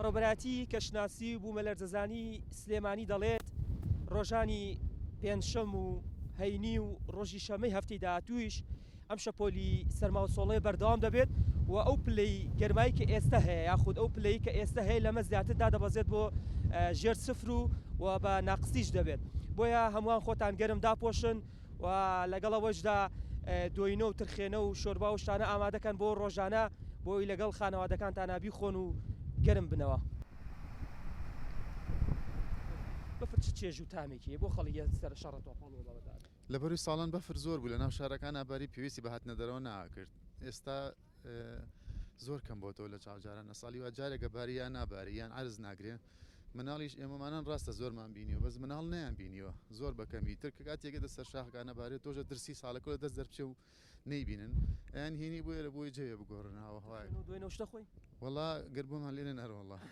بەڕێوەبەرایەتی کەشناسی و بوومەلەرزەزانی سلێمانی دەڵێت، رۆژانی پێنجشەم و هەینی و رۆژی شەممەی هەفتەی داهاتوویش ئەم شەپۆلی سەرما و سۆڵەیە بەردەوام دەبێت و ئەو پلەی گەرمایی کە ئێستە هەیە یاخود ئەو پلەی کە ئێستە هەیە لەمە زیاتر دادەبەزێت بۆ ژێر سفر و بە ناقسیش دەبێت بۆیە هەمووان خۆتان گەرم داپۆشن. و لەگەڵ ئەوەشدا دۆینۆ و ترخێنە و شۆربا و شتانە ئامادەکەن بۆ ڕۆژانە بۆی لەگەڵ خانەوادەکانتانا بیخۆن و گەرم بنەوە. بەفر چ چێژ و تامێکی هەیە بۆ خەڵکی سەر شەڕە تۆپەڵ و بەغداد؟ لە بەروی ساڵان بەفر زۆر بوو لە ناو شارەکانا باری پێویستی بە هاتنە دەرەوە ناکرد ئێستا زۆر کەم بۆتەوە لە چاو جاران ئەساڵی وا جارێک ئەباری یان ناباری یان عەرز ناگرێ مناڵیش ئێمەمانان ڕاستە زۆرمان بینیوە بەس مناڵ نەیان بینیوە زۆر بەکەمی تر کە کاتێکگە دە سەر شاخەکانە بارێت تۆژە درسی ساڵەکە دەست دەرچێ و نەیبینن ئەیان هینی بۆیە لە بۆی جەوێ بگۆڕناوە هەوای دوێنەشتە خۆی وڵا گەر بۆمان لێنە نەرۆڵە.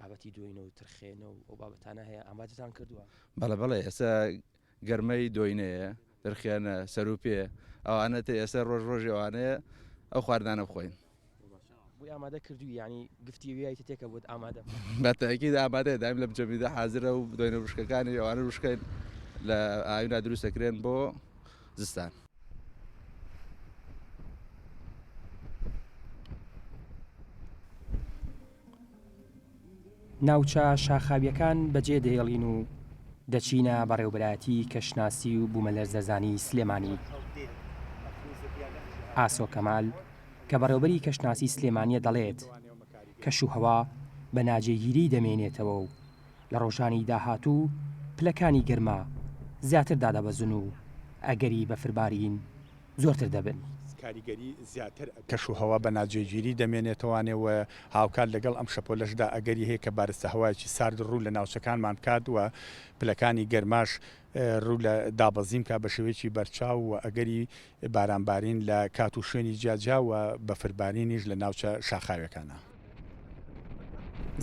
بابەتی دۆینە و ترخێنە و ئەو بابەتانە هەیە ئامادەتان کردووە؟ بەڵێ بەڵێ ئێستا گەرمەی دۆینەیە، ترخێنە، سەروپێ ئەوانە تێ ئێستا ڕۆژ ڕۆژی ئەوانەیە ئەو خواردنانە بخۆین. بۆی ئامادە کردووی یانی گفتی ویایت تێ کە بۆت ئامادە بکات؟ بە تەئکید ئامادەیە دایم لە بجەمیدا حازرە و دۆینە وشکەکانی ئەوانە وشکەین لە ئاوینا دروست دەکرێن بۆ زستان. ناوچە شاخاوییەکان بەجێ دەهێڵین و دەچینە بەڕێوبەرایەتی کەشناسی و بومەلەرزەزانی سلێمانی. ئاسۆ کەمال کە بەڕێوبەری کەشناسی سلێمانیە دەڵێت، کەش و هەوا بە ناجێگیری دەمێنێتەوە و لە ڕۆژانی داهاتوو پلەکانی گەرما زیاتر دادەبەزن و ئەگەری بەفربارین زۆرتر دەبن. کەشوهەوا بە ناجێگیری دەمێنێتەوانێ و هاوکات لەگەڵ ئەم شەپۆلەشدا ئەگەری هەیە کە بارستە هەوایەکی سارد ڕوو لە ناوچەکانمان بکات و پلەکانی گەرماش ڕوو لە دابەزین بکات بە شێوەیەکی بەرچاو و ئەگەری بارانبارین لە کات و شوێنی جیاجیا و بەفربارینیش لە ناوچە شاخاوێکانە.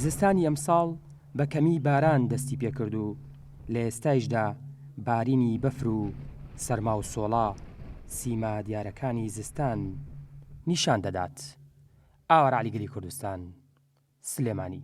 زستانی ئەمساڵ بە کەمی باران دەستی پێکرد و لە ئێستایشدا بارینی بەفر و سەرما و سۆڵە سیما دیارەکانی زستان نیشان دەدات. ئاوارعەلی گەلی کوردستان، سلێمانی.